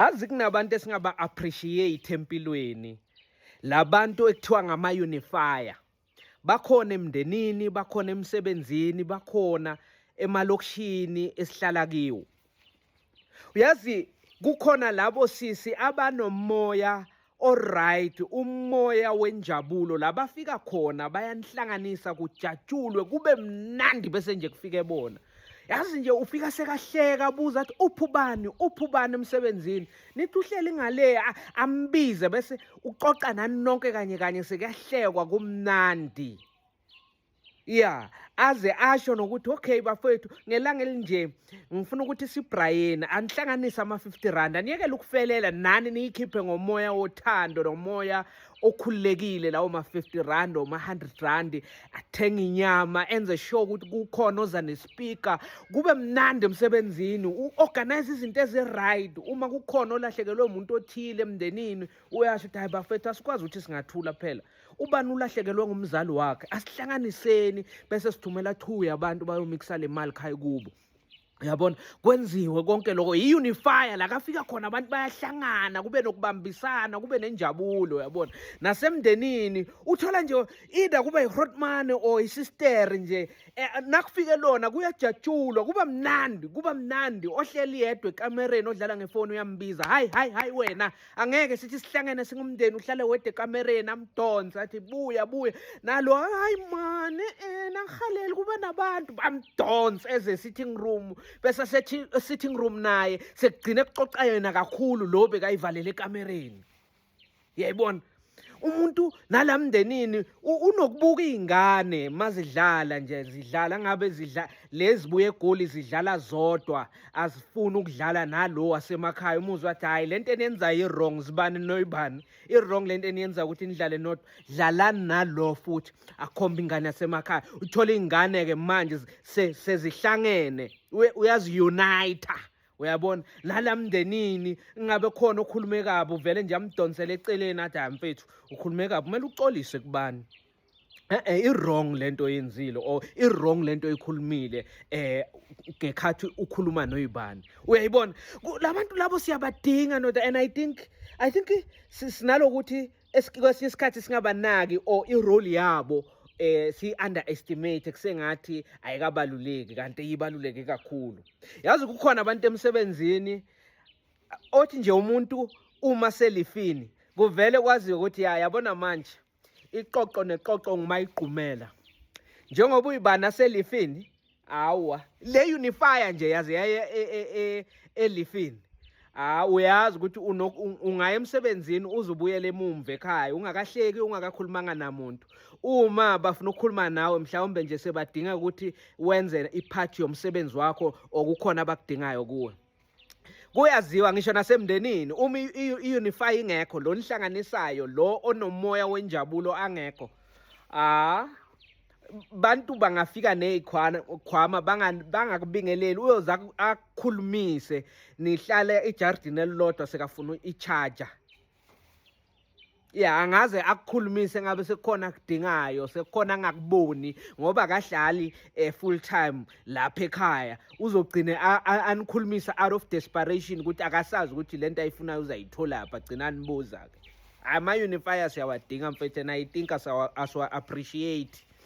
azi kunabantu esingaba appreciate empilweni labantu ekuthiwa ngama unifier bakhona emndenini bakhona emsebenzini bakhona emalokishini esihlala kiwo uyazi kukhona labo sisi abanomoya Alright, umoya wenjabulo labafika khona bayanhlanganisa kujatshulwe kube mnandi bese nje kufike bona. Yazi nje ufika sekahleka abuza athi uphubani uphubani emsebenzini. Nithi uhleli ngale ambize bese uxoxa nani nonke kanye kanye sekuyahlekwa kumnandi. ya aze asho nokuthi okay bafowethu ngelanga elinje ngifuna ukuthi sibrayeni anihlanganise ama-50 rand aniyekele ukufelela nani niyikhiphe ngomoya wothando nomoya okhululekile lawo ma-50 rand or ma-100 rand athenga inyama enze sure ukuthi kukhona oza nespeaker kube mnandi emsebenzini u-organize izinto ezi-right uma kukhona olahlekelwe umuntu othile emndenini uyasho ukuthi hayi bafethu asikwazi ukuthi singathula phela ubani ulahlekelwe ngumzali wakhe asihlanganiseni bese sithumela two yabantu bayomikisa le mali khayi kubo yabona kwenziwe konke lokho yi-unifya la kafika khona abantu bayahlangana kube nokubambisana kube nenjabulo yabona nasemndenini uthola nje either kuba yi-hotmane or isister nje eh, nakufike lona kuyajatshulwa kuba mnandi kuba mnandi ohleli yedwa ekamereni odlala ngefoni uyambiza hayi hayi hayi wena angeke sithi sihlangene singumndeni uhlale wede ekamereni amdonsa athi buya buya nalo hayi mani eh, nangihaleli kuba nabantu bamdonsa eze sitting room bese sitting room naye sekugcine kuxoxa yena kakhulu lo bekayivalele ekamereni yayibona umuntu nala mndenini unokubuka iy'ngane mazidlala nje zidlala ngabe zidla lezibuye egoli zidlala zodwa azifuni ukudlala nalo wasemakhaya umuzwe wathi hhayi le nto eniyenzayo i-wrong zibani noyibani i-wrong le nto eniyenza ukuthi nidlale nodwa dlalani nalo futhi akhombe ingane yasemakhaya uthole iy'ngane-ke manje sezihlangene uyazi-unita uyabona nala mndenini ingabe khona okhulume kabi uvele nje amdonsele eceleni athi hayi mfethu ukhulume kabi kumele uxolise kubani e-e i-wrong le nto oyenzile or i-wrong le nto oyikhulumile um ngekhathi ukhuluma noyibani uyayibona la bantu labo siyabadinga noda and i think i think sinalokuthi kwesinye isikhathi singabanaki or irole yabo eh si-underestimate kusengathi ayikabaluleki kanti iyibaluleke kakhulu yazi kukhona abantu emsebenzini othi nje umuntu uma selifini kuvele kwaziwe ukuthi ya yabona manje iqoqo neqoqo ngumayigqumela njengoba uyibana selifini hawa le unifier nje yaze yaye e, e, e, elifini ha uyazi ukuthi ungaya emsebenzini uzubuyele emumva ekhaya ungakahleki ungakakhulumanga namuntu uma bafuna ukukhuluma nawe mhlawumbe nje sebadinga ukuthi wenze iphathi yomsebenzi wakho okukhona abakudingayo kuwe kuyaziwa ngisho nasemndenini uma i-unify ingekho lo nihlanganisayo lo onomoya wenjabulo angekho ah bantu bangafika nezikhwama bangakubingeleli uyoza akhulumise nihlale ejardini elilodwa sekafuna i-charger ya angaze akukhulumise ngabe sekukhona kudingayo sekukhona angakuboni ngoba kahlali eh, full time lapha ekhaya uzogcine anikhulumisa out of desperation ukuthi akasazi ukuthi lento ayifunayo uzayithola pha gcina nibuza ke ama unifiers yawadinga mfethu and i think asawa appreciate